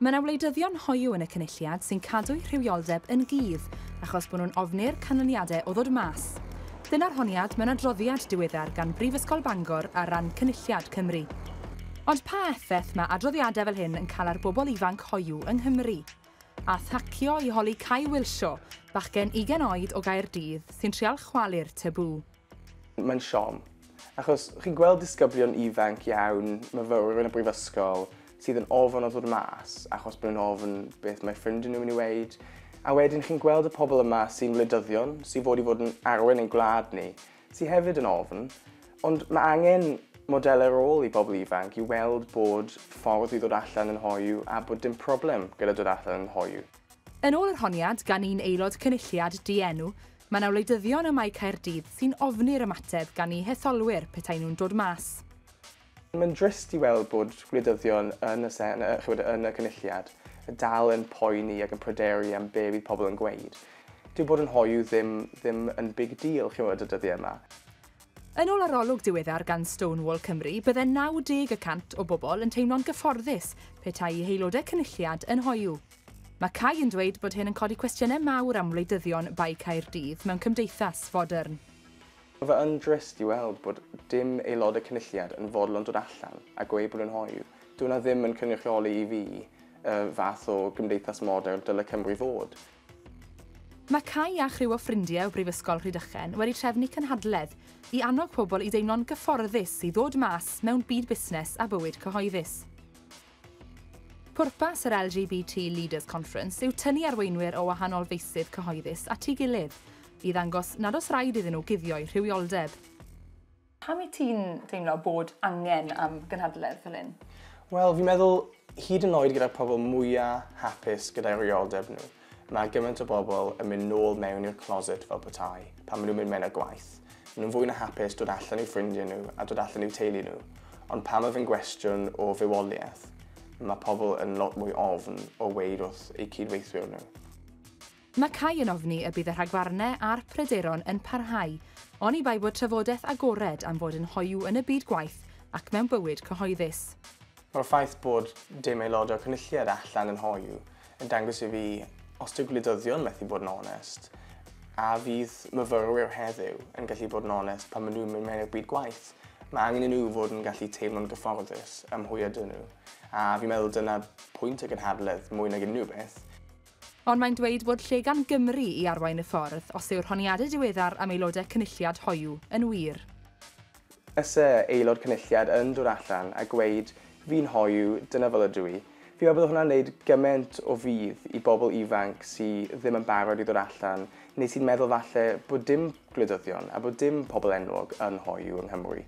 Mae yna wleidyddion hoyw yn y Cynulliad sy'n cadw'u rhywioldeb yn gudd achos bod nhw'n ofni'r canlyniadau o ddod mas. Dyna'r honiad mewn adroddiad diweddar gan Brifysgol Bangor ar ran Cynulliad Cymru. Ond pa effaith mae adroddiadau fel hyn yn cael ar bobl ifanc hoyw yng Nghymru? A thacio i holi Cai Wilshaw, bachgen ugain oed o Gaerdydd sy'n trial chwalu'r tabŵ. Mae'n siom, achos chi'n gweld disgyblion ifanc iawn, myfyrwyr yn y brifysgol, sydd yn ofn o ddod mas, achos bod nhw'n ofn beth mae ffrindiau nhw'n mynd i weid, a wedyn chi'n gweld y pobl yma sy'n wleidyddion, sy'n fod i fod yn arwen ein gwlad ni, sydd hefyd yn ofn, ond mae angen modelau rôl i bobl ifanc i weld bod ffordd i ddod allan yn hoyw a bod dim problem gyda dod allan yn hoyw. Yn ôl yr honiad gan un aelod Cynulliad Dienw, Mae 'na wleidyddion ym Mae Caerdydd sy'n ofni'r ymateb gan eu hetholwyr petai nhw'n dod mas. Mae'n drist i weld bod gwleidyddion yn y Sen- yy chibod, yn y Cynulliad dal yn poeni ac yn pryderu am be' fydd pobl yn gweud. Dyw bod yn hoyw ddim ddim yn big deal, chimod, y dyddie 'ma. Yn ôl arolwg diweddar gan Stonewall Cymru, bydde 90 y cant o bobl yn teimlo'n gyfforddus petai i haelodau Cynulliad yn hoyw. Mae Cai yn dweud bod hyn yn codi cwestiynau mawr am wleidyddion Bae Caerdydd mewn cymdeithas fodern. Mae fe yn drist i weld bod dim aelod y Cynulliad yn fodlon dod allan a gweud bod yn hoyw. Dyw hwnna ddim yn cynrychioli i fi y fath o gymdeithas modern dyle Cymru fod. Mae Cai a chriw o ffrindiau o Brifysgol Rhydychen wedi trefnu cynhadledd i annog pobl i deimlo'n gyfforddus i ddod mas mewn byd busnes a bywyd cyhoeddus. Pwrpas yr LGBT Leaders Conference yw tynnu arweinwyr o wahanol feysydd cyhoeddus at ei gilydd i ddangos nad oes rhaid iddyn nhw guddio'u rhywioldeb. Pam wyt ti'n teimlo bod angen am gynhadledd fel hyn? Wel, fi'n meddwl, hyd yn oed gyda'r pobl mwya' hapus gyda'i rywioldeb nhw, Mae gymaint o bobl yn mynd nôl mewn i'r closet fel petai, pan maen nhw'n mynd mewn ar gwaith. Maen nhw'n fwy na hapus dod allan i'w ffrindiau nhw a dod allan i'w teulu nhw. Ond pan mae fe'n gwestiwn o fywoliaeth, mae pobl yn lot mwy ofn o weud wrth eu cyd-weithwyr nhw. Mae Cai yn ofni y bydd y rhagfarnau a'r pryderon yn parhau, oni bai bod trafodaeth agored am fod yn hoyw yn y byd gwaith ac mewn bywyd cyhoeddus. Mae'r ffaith bod dim aelod o'r Cynulliad allan yn hoyw yn dangos i fi os dyw gwleidyddion methu bod yn onest, a fydd myfyrwyr heddiw yn gallu bod yn onest pan maen nhw'n mynd mewn i'r byd gwaith. Mae angen i nhw fod yn gallu teimlo'n gyfforddus ym mhwy ydyn nhw, a fi'n meddwl dyna pwynt y gynhadledd mwy nag unrhyw beth. Ond mae'n dweud fod lle gan Gymru i arwain y ffordd os yw'r honiadau diweddar am aelodau Cynulliad hoyw yn wir. Ese aelod cynulliad yn dod allan a gweud fi'n hoyw, dyna fel ydw i. Fi'n meddwl bod hwnna'n neud gyment o fudd i bobl ifanc sy ddim yn barod i ddod allan neu sy'n meddwl falle bod dim gwleidyddion a bod dim pobl enwog yn hoyw yng Nghymru.